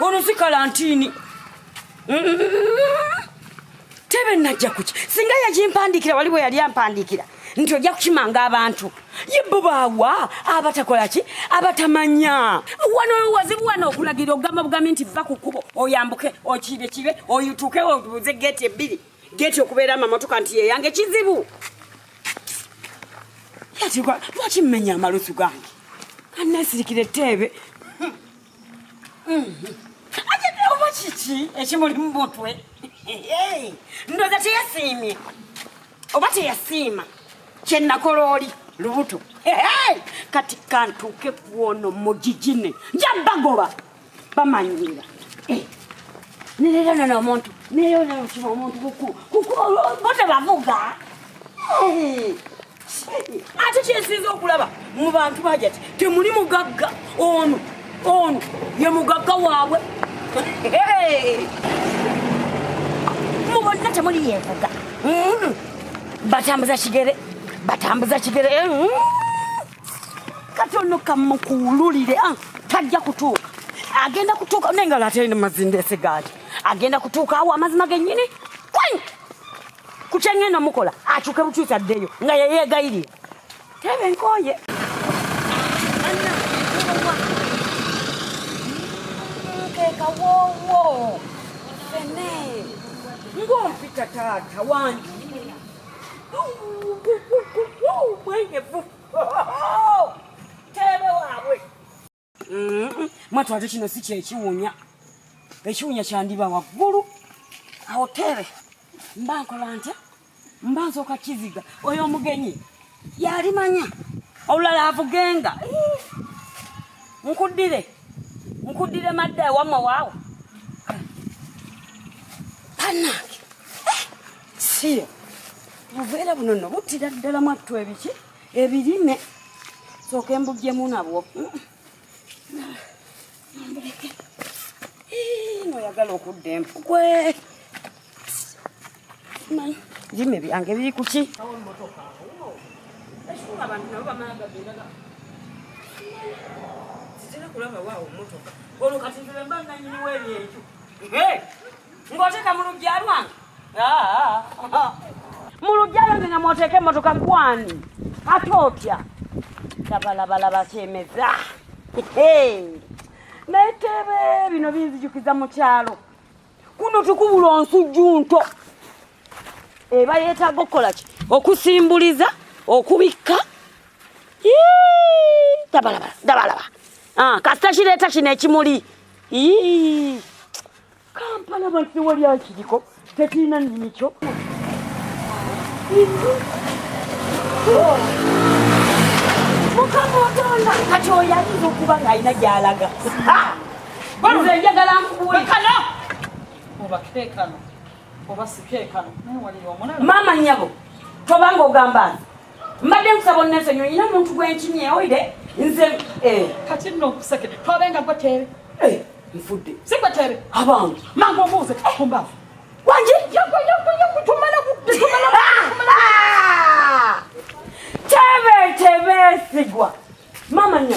ono si kalantini tebe najja kuki singa yakimpandikira wali bwe yali ampandikira nti ojja kukimanga abantu ye bo baawa abatakola ki abatamanya wano wazibu wano okulagira ogamba bugambi nti va ku kkubo oyambuke okiibekiibe oyutuke obuze geeti ebbiri geti okubeera amamotoka nti yeyange kizibu yatigwa lwaki mmenya amalusu gange kannesirikira etteebe oba kiki ekimuli mu mutwe ndoza teyasiimye oba teyasiima kyenakola oli lubuto kati kantuuke kwono mugigine njabagoba bamanyirira eh, nerero nono omuntu nerero nokima omuntu bote bavuga eh, ate kyensinza okulaba mu bantu baja ti temuli mugagga ono ono ye mugagga waabwe eh, mubonna temuli yevuga hmm, batambuza kigere batambuza kigere hmm. kati ono kamukuwululire ah, tajja kutuuka agenda kutuuka naye nga late mazinde sigaati agenda kutuuka awo amazima genyini kwany kukyengenda mukola akyuke bukyusi addeyo nga yeyegayirira tebe nkoye kekawowo fene ngompita taata wangi mwatu ate kino si kyekiwunya ekiwunya kyandiba waggulu awo teebe mba nkola ntya mba nsooka kiziga oyo omugenyi yalimanya olulala avugenga nkuddire nkuddire madda ewamma waawo si buveera buno no buttira ddala mwattu ebiki ebirime sooka embuggyemu nabwo noyagala okudda empugwe birime byange biri kuki olwo kati nzire mba nanyiniwo ebyenju ng'oteeka mu lujja lwange mu lujja lwange nga mwoteeka emmotoka gwani ate otya labalabalaba kyemeza naye tebe bino binzijukiza mu kyalo kuno tukubula onsujju nto eba yeetaaga okukola ki okusimbuliza okubikka dabalaba dabalaba ah, kasita kireeta kino ekimuli kampala abantu tewali akiriko tekirina nnimi kyo mukama otonda kati oyo ayinza okuba ng'alina gy'alaga nze njagala nkubuulekano oba keekano oba sikeekano maama nnyabo tobanga ogamba nti mbadde nkusaba onnese nyo nyina omuntu gwenkimye oide nze eh. kati nno okuseke twabe nga gwe teebe eh, nfudde si gwe teebe abange mangu omuuze eh. kumbaavu wanje tumala teebe teebe sigwa mama nyo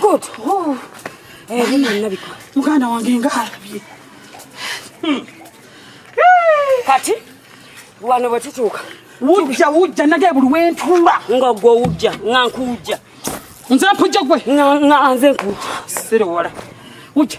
Good. Oh. Eh, hey, mimi nabiko. Muganda wange ngalabye. Hmm. Kati wano bwe tutuuka wujja wujja nage buli wentuula nga gwe wujja nga nkujja nze mpujja gwe nga nze nkujja sirewala wujja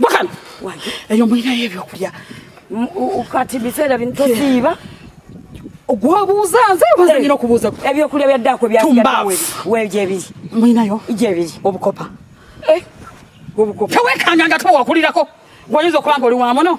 Gwakana. Wange. Eyo mulina ebyokulya. Kati biseera bino tosiiba. ogwabuuza nze obanza eh, nyina okubuuza ebyokulya bya ddaako byawegyebiri mulinayo gyebiri obukopa eh, obukopa tewekanga nga towakulirako gwayinza okuba nga oli wamuno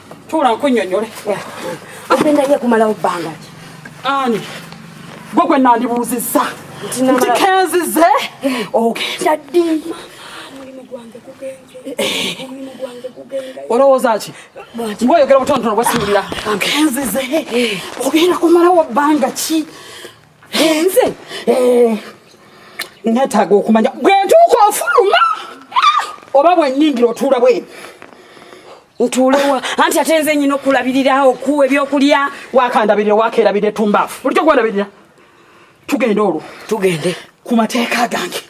Tuula nkunyonyole. Agenda ye kumalawo bbanga ki? Ani? Gwe gwe nandibuuzizza. Nti kenzize ogenda ddi? Omulimu gwange gugenze. Omulimu gwange gugenze. Olowooza ki? Gwe oyogera butonotono bwe siwulira. Kenzize ogenda kumalawo bbanga ki? Nze? Eh. Nneetaaga okumanya bwe ntuuka ofuluma oba bwe nnyingira otuula bwe. ntuulewa anti ate nze nyina okulabirira okuwa ebyokulya wakandabirira wakerabirira tumbaafu bulikyo kwerabirira tugende olwo tugende ku mateeka gange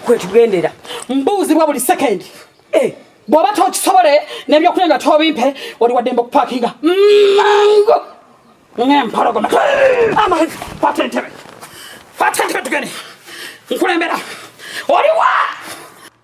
kwetugendera mbuuzibwa buli sekendi eh. bw'oba tokisobole nebyokulya nga tobimpe oli waddembe okupakinga mango ngempologoma fata entebe fata entebe tugende nkulembera oliwa